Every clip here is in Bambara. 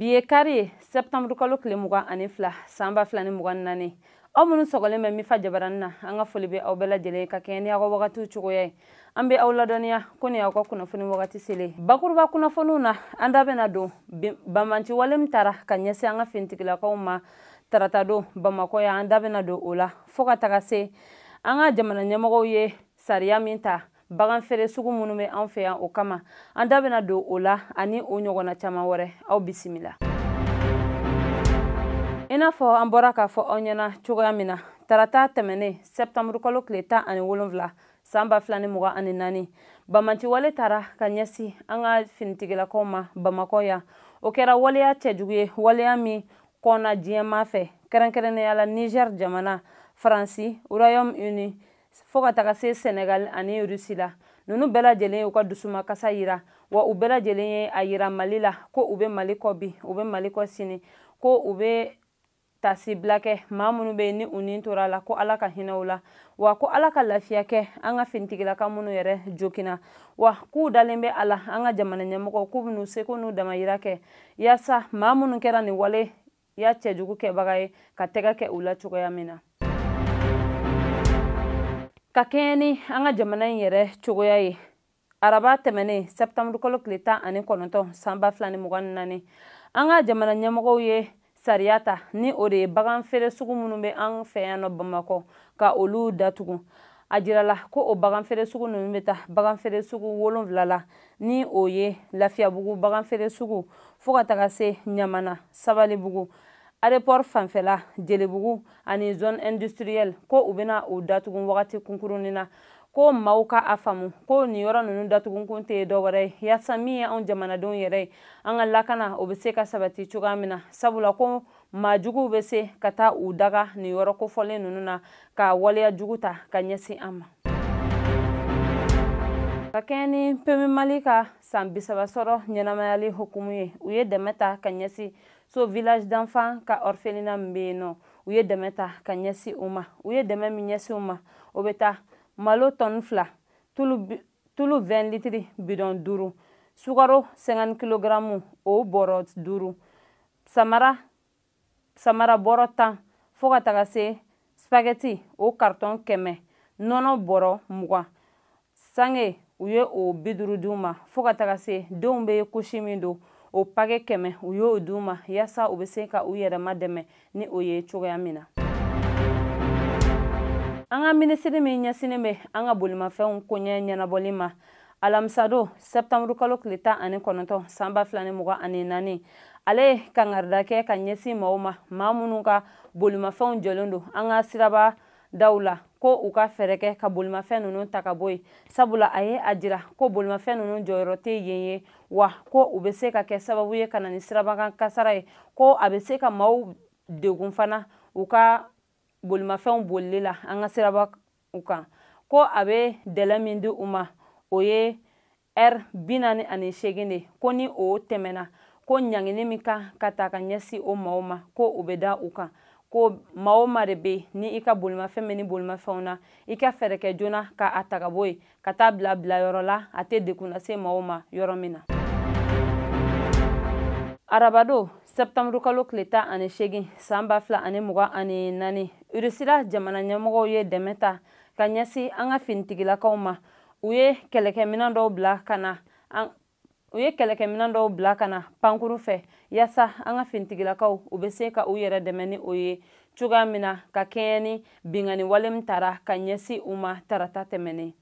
bi ye kari ye sɛptanburukalo tile mugan ani fila san ba fila ni mugan ni naani aw minnu sɔgɔlen bɛ mifa jabarani na an ka foli bɛ aw bɛɛ lajɛlen ka kɛɲɛ ni aw ka wagatiw cogoya ye an bɛ aw ladɔnniya ko nin aw ka kunnafoni wagati selen bakuruba kunnafoniw na an da bɛna don banbanci wale min tara ka ɲɛsin an ka finitigilakaw ma tarata don bamakɔ yan an da bɛna don o la fo ka taga se an ka jamana ɲɛmɔgɔw ye sariya min ta bagan feere sugu minnu bɛ an fɛ yan o kama an da bɛna don o la ani o ɲɔgɔnna caman wɛrɛ aw bisimila i n'a fɔ an bɔra k'a fɔ aw ɲɛna cogoya min na tarata tɛmɛnen sɛptanburukalo tile tan ani wolonfila san ba fila ni mugan ani naani banbanci wale tara ka ɲɛsin an ka finitigilakaw ma bamakɔ yan o kɛra waleya cɛjugu ye waleya min kɔnna diɲɛmaa fɛ kɛrɛnkɛrɛnnenya la niger jamana faransi royaume uni fo ka taga se sɛnɛgali ani rusi la nunu bɛɛ lajɛlen y'u ka dusumakasa yira wa u bɛɛ lajɛlen ye a yira mali la ko u be mali kɔ bi u be mali kɔ sini ko u be tasibila kɛ maa minnu be ni u ni tora a la ko ala ka hinɛ u la wa ko ala ka lafiya kɛ an ka finitigilaka minnu yɛrɛ joginna wa k'u dalen be a la an ka jamana ɲɛmɔgɔw k'u bɛn'u seko n'u damayira kɛ yaasa maa minnu kɛra nin wale ya cɛjugu kɛbaga ye ka tɛgɛ kɛ u la cogoya min na ka kɛɲɛ ni an ka jamana in yɛrɛ cogoya ye araba tɛmɛnen sɛptanburukalo tile tan ani kɔnɔntɔn san ba fila ni mugan ni naani an ka jamana ɲɛmɔgɔw ye sariya ta ni o de ye bagan feere sugu minnu bɛ an fɛ yan nɔ bamakɔ ka olu datugu a jirala ko o bagan feere sugu ninnu bɛ taa bagan feere sugu wolonfila la ni o ye lafiyabugu baganfeere sugu fo ka taga se ɲamana sabalibugu aéroport fanfɛla jelibugu ani zone industrielle ko u bɛna o datugun wagati kunkurunnin na ko maaw ka a faamu ko nin yɔrɔ ninnu datugunkun tɛ dɔ wɛrɛ ye yaasa min ye anw jamanadenw yɛrɛ ye an ka lakana o bɛ se ka sabati cogoya min na sabula ko maa juguw bɛ se ka taa u daga nin yɔrɔ kofɔlen ninnu na ka waleya jugu ta ka ɲɛsin an ma ka kɛɲɛ ni pmu mali ka san bisaba sɔrɔ ɲɛnamayali hukumu ye u ye dɛmɛ ta ka ɲɛsin sos village d'enfants ka orphelinat min bɛ yen nɔ u ye dɛmɛ ta ka ɲɛsin u ma u ye dɛmɛ min ɲɛsin u ma o bɛ taa malo tɔni fila tulu 20 litiri bidɔn duuru sukaro 50 kilogaramu o bɔrɔ duuru samara bɔrɔ tan fo ka taga se spagɛti o karitɔn kɛmɛ nɔnɔ bɔrɔ mugan sange u ye o bi duuru di u ma fo ka taga se denw bɛ kusi min don o pake kɛmɛ u y'o di u ma yaasa u bɛ se ka u yɛrɛma dɛmɛ ni o ye cogoya min na an ka minisiri min ɲɛsinnen bɛ an ka bolimafɛnw koɲɛ ɲɛnabɔli ma alamisado sɛptanburu kalo tile tan ani kɔnɔntɔn san ba fila ni mugan ani naani ale ye kangarida kɛ ka ɲɛsin maaw ma maa minnu ka bolimafɛnw jɔlen don an ka siraba daw la ko u ka fɛɛrɛ kɛ ka bolimafɛn ninnu ta ka bɔ yen sabula a ye a jira ko bolimafɛn ninnu jɔyɔrɔ tɛ yen ye wa ko u bɛ se ka kɛ sababu ye ka na ni sirabakan kasara ye ko a bɛ se ka maaw degun fana u ka bolimafɛnw bolili la an ka siraba kan ko a bɛ dɛlɛ min di u ma o ye ɛri bi naani ani seegin de ko ni o tɛmɛna ko ɲangini min kan ka ta ka ɲɛsin o maaw ma ko o bɛ da u kan ko maa o maa de bɛ ni i ka bolimafɛn bɛ nin bolimafɛnw na i ka fɛɛrɛ kɛ joona ka a ta ka bɔ yen ka taa bila bilayɔrɔ la a tɛ degun lase maaw ma yɔrɔ min na arabado sɛptanburu kalo tile tan ani seegin san ba fila ani mugan ani naani irisila jamana ɲɛmɔgɔw ye dɛmɛ ta ka ɲɛsin an ka finitigilakaw ma u ye kɛlɛkɛminɛn dɔw bila ka na u ye kɛlɛkɛminɛn dɔw bila ka na pankuru fɛ yaasa an ka finitigilakaw u bɛ se ka u yɛrɛ dɛmɛ ni o ye cogoya min na ka kɛɲɛ ni binkanni wale min tara ka ɲɛsin u ma tarata tɛmɛnen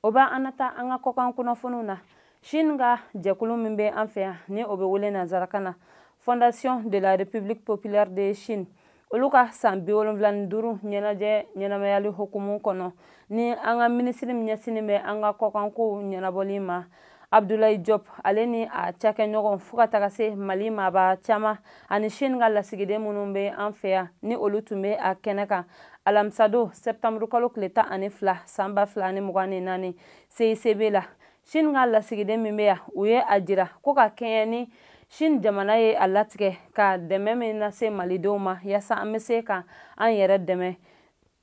o b'an nataa an ka kɔkan kunnafoniw na chine ka jɛkulu min bɛ an fɛ yan ni o bɛ wele nanzarakan na fondation de la république populaire de chine olu ka san bi wolonfila ni duuru ɲɛnajɛ ɲɛnamayali hukumu kɔnɔ ni an ka minisiri min ɲɛsinnen bɛ an ka kɔkankow ɲɛnabɔli ma abdulayi jɔp ale ni a cakɛɲɔgɔn fo ka taga se mali maaba caman ani sini ka lasigiden minnu bɛ an fɛ yan ni olu tun bɛ a kɛnɛ kan alamisado sɛptanburukalo tile tan ani fila san ba fila ni mugan ni naani seisebe la sini ka lasigiden min bɛ yan u ye a jira ko ka kɛɲɛ ni sini jamana ye a latigɛ ka dɛmɛ min lase malidenw ma yaasa an bɛ se ka an yɛrɛ dɛmɛ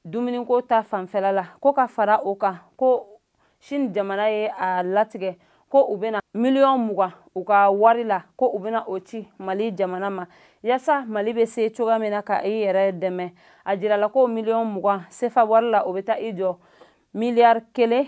dumuniko ta fanfɛla la ko ka fara o kan ko sini jamana ye a latigɛ ko u bɛna miliyɔn mugan u ka wari la ko u bɛna o ci mali jamana ma yaasa mali bɛ se cogoya min na ka i yɛrɛ dɛmɛ a jirala ko miliyɔn mugan sefa wari la o bɛ taa i jɔ miliyari kelen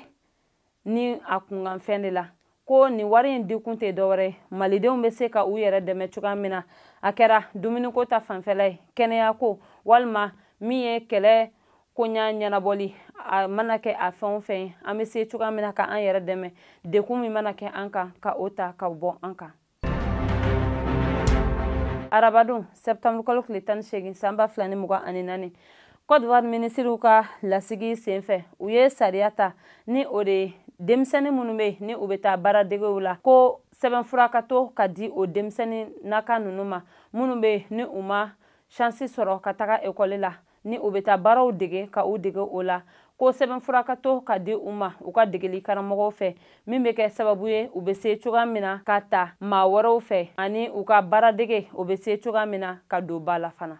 ni a kunkanfɛn de la ko nin wari in dikun tɛ dɔwɛrɛ malidenw bɛ se ka u yɛrɛ dɛmɛ cogoya min na a kɛra dumuniko ta fanfɛla ye kɛnɛyako walima min ye kɛlɛ koɲa ɲɛnabɔli a mana kɛ a fɛn o fɛn an bɛ se cogoya min na ka an yɛrɛ dɛmɛ degun min mana kɛ an kan ka o ta ka bɔ an kan arabadon sɛptanburu kalo tile tan ni seegin san ba fila ni mugan ani naani kɔdiwari minisiriw ka lasigi senfɛ u ye sariya ta ni o de ye denmisɛni minnu bɛ ni u bɛ taa baaradegew la ko sɛbɛnfura ka to ka di o denmisɛni naka ninnu ma minnu bɛ ni u ma shansi sɔrɔ ka taga ekɔli la ni u bɛ taa baaraw dege ka u dege o la ko sɛbɛnfura ka to ka di u ma u ka degeli karamɔgɔw fɛ min bɛ kɛ sababu ye u bɛ se cogoya min na ka ta maa wɛrɛw fɛ ani u ka baaradege o bɛ se cogoya min na ka don ba la fana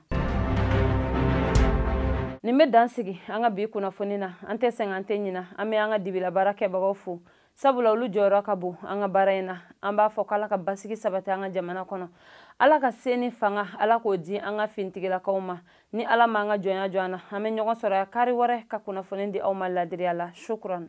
nin bɛ dan sigi an ka bi kunnafoni na an tɛ sɛgɛn an tɛ ɲina an bɛ an ka dibilabaara kɛbagaw fo sabula olu jɔyɔrɔ ka bon an ka baara in na an b'a fɔ k'ala ka basigi sabati an ka jamana kɔnɔ ala ka se ni fanga ala k'o di an ka fintigilakaw ma ni ala m'an ka jɔnya jɔ an na an bɛ ɲɔgɔn sɔrɔ yan kari wɛrɛ ka kunnafoni di aw ma ladiriya la shukran